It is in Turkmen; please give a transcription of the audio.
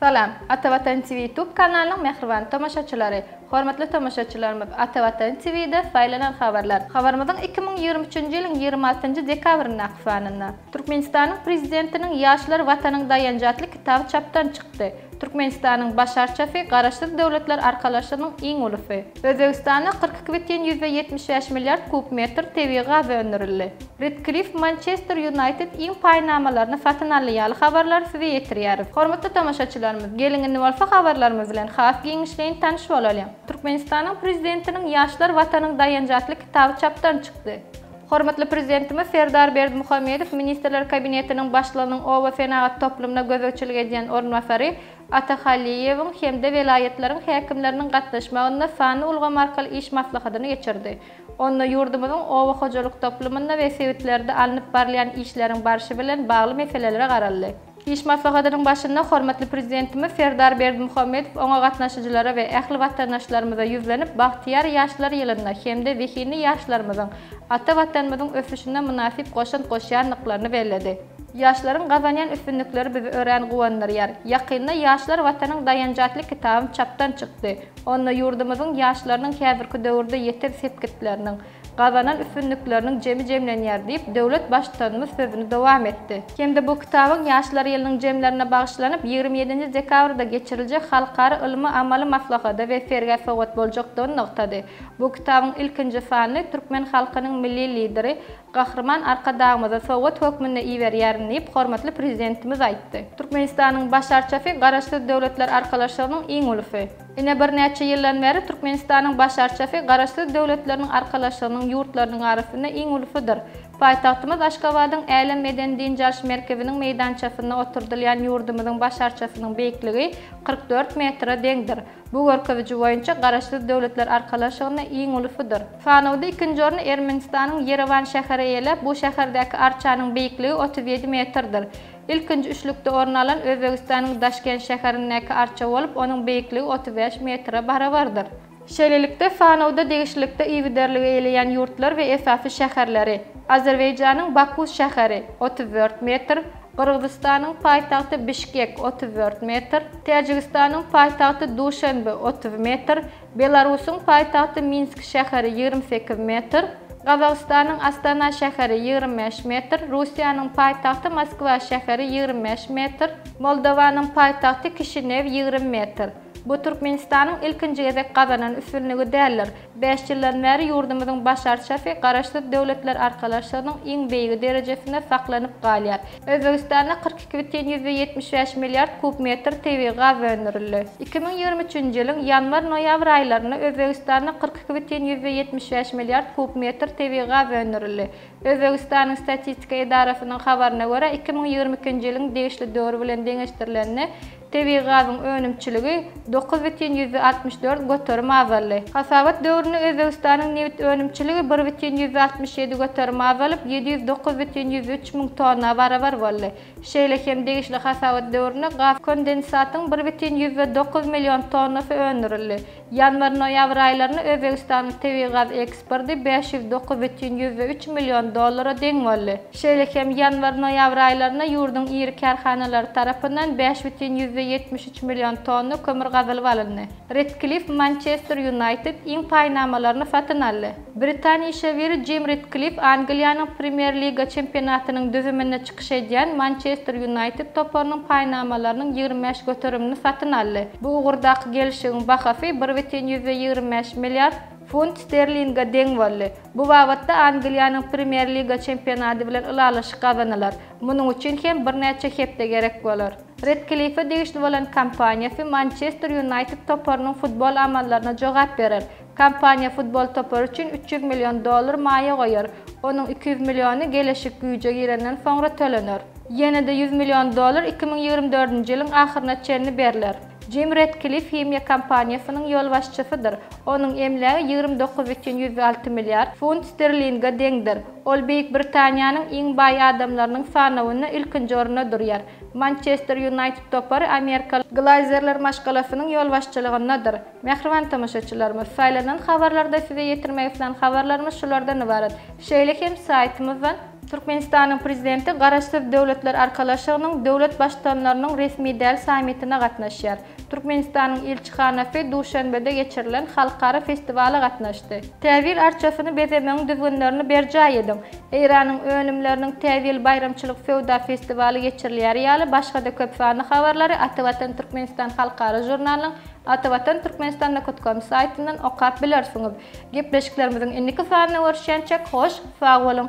Salam, Ata Watan TV YouTube kanalynyň mähriban tomaşaçylary! Hormatly tomaşaçylarymyz, Ata Watan TV-de saýlanan habarlar. Habarymyzyň iki müň ýigrimi üçünji ýylyň ýigrimi altynjy dekabryndaky sanynda. Türkmenistanyň Prezidentiniň Ýaşlar Watanyň daýanjy atly kitaby çapdan çykdy. Türkmenistanyň Baş arçasy Garaşsyz Döwletler Arkalaşygynyň iň ulusy. Özbegistanda kyrk iki bütin ýüzde ýetmiş bäş milliard kub metr tebigy gaz öndürildi. Redcliffe Mançester Ýunaýted iň paýnamalaryny satyn aldy ýaly habarlary size ýetirýäris. Hormatly tomaşaçylarymyz, geliň indi bolsa habarlarymyz bilen has giňişleýin tanyş bolalyň. Türkmenistanyň Prezidentiniň Ýaşlar Watanyň daýanjy atly kitaby çapdan çykdy. Hormatly Prezidentimiz Serdar Berdimuhamedow Ministrler Kabinetiniň Başlygynyň oba senagat toplumyna gözegçilik edýän orunbasary Ata Hallyýewiň hem-de welaýatlaryň häkimleriniň gatnaşmagynda sanly ulgam arkaly iş maslahatyny geçirdi. Onda ýurdumyzyň oba hojalyk toplumynda we sebitlerde alnyp barylýan işleriň barşy bilen bagly meselelere garaldy. Iş maslahatynyň başynda hormatly Prezidentimiz Serdar Berdimuhamedow oňa gatnaşyjylara we ähli watandaşlarymyza ýüzlenip, bagtyýar ýaşlar ýylynda hem-de zehinli ýaşlarymyzyň ata Watanymyzyň ösüşine mynasyp goşant goşýandyklaryny belledi. Ýaşlaryň gazanýan üstünlikleri bizi örän guwandyrýar. Ýakynda Ýaşlar Watanyň daýanjy atly kitabym çapdan çykdy. Onda ýurdumyzyň ýaşlarynyň häzirki döwürde ýeten sepgitleriniň, gazanan üstünlikleriniň jemi jemlenýär diýip, döwlet Baştutanymyz sözüni dowam etdi. Hem-de bu kitabyň Ýaşlar ýylynyň jemlerine bagyşlanyp, ýigrimi ýedinji dekabrda geçiriljek halkara ylmy-amaly maslahata we sergä sowgat boljakdygyny nygtady. Bu kitabyň ilkinji sanyny türkmen halkynyň Milli Lideri Gahryman Arkadagymyza sowgat hökmünde iberýärin diýip, hormatly Prezidentimiz aýtdy. Türkmenistanyň Baş arçasy Garaşsyz Döwletler Arkalaşygynyň iň ulusy. Ine birnäçe ýyldan bäri Türkmenistanyň Baş arçafi Garaşsyz Döwletleriň Arkalaşygynyň ýurtlarynyň arasynda iň ulusydyr. Paýtagtymyz Aşgabadyň Älem medeni-dynç alyş merkeziniň meýdançasynda oturdylýan ýurdumyzyň Baş arçasynyň beýikligi kyrk dört metre deňdir. Bu görkeziji boýunça Garaşsyz Döwletler Arkalaşygynda iň ulusydyr. Sanawda ikinji orny Ermenistanyň Ýerewan şäheri eýeläp, bu şäherdäki arçanyň beýikligi otuz ýedi metrdir. Ilkinji üçlükde orun alan Özbegistanyň Daşkent şäherindäki arça bolup, onuň beýikligi otuz bäş metre barabardyr. Şeýlelikde, sanawda degişlilikde I biderligi eýleýän ýurtlar we esasy şäherleri, Azerbaýjanyň Baku şäheri, otuz dört metr, Gyrgyzystanyň paýtagty Bişkek, otuz dört metr, Täjigistanyň paýtagty Duşenbe, otuz metr, Belarusyň paýtagty Minsk şäheri ýigrimi sekiz metr, Gazagystanyň Astana şäheri ýigrimi bäş metr, Russiýanyň paýtagty Moskwa şäheri ýigrimi bäş metr, Moldowanyň paýtagty Kişinew ýigrimi metr. Bu Türkmenistanyň ilkinji gezek gazanan üstünligi däldir. Bäş ýyldan bäri ýurdumyzyň baş arçasy Garaşsyz Döwletler Arkalaşygynyň iň beýigi derejesinde saklanyp galýar. Özbegistanda kyrk iki bütin ýüzde ýetmiş bäş milliard kub metr tebigy gaz öndürildi. Iki müň ýigrimi üçünji ýylyň ýanwar-noýabr aýlarynda Özbegistanda kyrk iki bütin ýüzde ýetmiş bäş milliard kub metr tebigy gaz öndürildi. Özbegistanyň Statistika edarasynyň habaryna görä, iki müň ýigrimi ikinji ýylyň degişli döwri bilen deňeşdirilende, Tebigy gazyň önümçiligi dokuz bütin ýüzde altmyş dört göterim azaldy. Hasabat döwründe Özbegistanyň nebit önümçiligi bir bütin ýüzde altmyş ýedi göterim azalyp, ýedi ýüz dokuz bütin ýüz üç müň tonna barabar boldy. Şeýle hem degişli hasabat döwründe gaz kondensatyň bir bütin ýüzde dokuz million tonnasy öndürildi. Ýanwar-noýabr aýlarynda Özbegistanyň tebigy gaz eksporty bäş ýüz dokuz bütin ýüzde üç million dollara deň boldy. Şeýle hem ýanwar-noýabr aýlarynda ýurduň iri kärhanalary tarapyndan bäş bütin ýüzde ýetmiş üç million tonna kömür gazylyp alyndy. Redklif Mançester Ýunaýted iň paýnamalaryny satyn aldy. Britan işewüri Jim Retklif Angliýanyň Premýer-liga çempionatynyň düzüminde çykyş edýän Mançester Ýunaýted toparynyň paýnamalarynyň ýigrimi bäş göterimini satyn aldy. Bu ugurdaky gelşigiň bahasy bir bütin ýüzde ýigrimi bäş milliard funt sterlinge deň boldy. Bu babatda Angliýanyň Premýer-liga çempionaty bilen ylalaşyk gazanylar. Munuň üçin hem birnäçe hepde gerek bolar. Retklife degişli bolan kompaniýasy Mançester Ýunaýted toparynyň futbol amallaryna jogap berer. Kompaniýa futbol topary üçin üç ýüz million dollar maýa goýar, onuň iki ýüz milliony geleşik güýje girenden soňra tölener. Ýene-de ýüz million dollar iki müň ýigrimi dördünji ýylyň ahyryna çenli berler. Jim Redkliff himiýa kompaniýasynyň ýolbaşçysydyr, onuň emlägi ýigrimi dokuz bütin ýüz alty milliard funt sterlinge deňdir. Ol Beýik Britaniýanyň iň baý adamlarynyň sanawynda ilkinji orunda durýar. Mançester Ýunaýted topary amerikaly Glaýzerler maşgalasynyň ýolbaşçylygyndadyr. Mähriban tomaşaçylarymyz, saýlanan habarlarda size ýetirmek islän habarlarymyz şulardan ybarat. Şeýle hem saýtymyzdan. Türkmenistanyň Prezidenti Garaşsyz Döwletler Arkalaşygynyň döwlet Baştutanlarynyň resmi däl sammitine gatnaşýar. Türkmenistanyň ilçihanasy Duşanbede geçirilen halkara festiwala gatnaşdy. Täjil arçasyny bezemegiň düzgünlerini berjaý ediň! Eýranyň önümleriniň Täjil baýramçylyk söwda festiwaly geçirilýäri ýaly başga-da köp sanly habarlary Ata Watan Türkmenistan halkara žurnalynyň Atavatan Türkmenistan Nokot Kom saýtyndan okap bilersiňiz. Gepleşiklerimiziň indiki sanyna görüşýänçäk hoş sag boluň!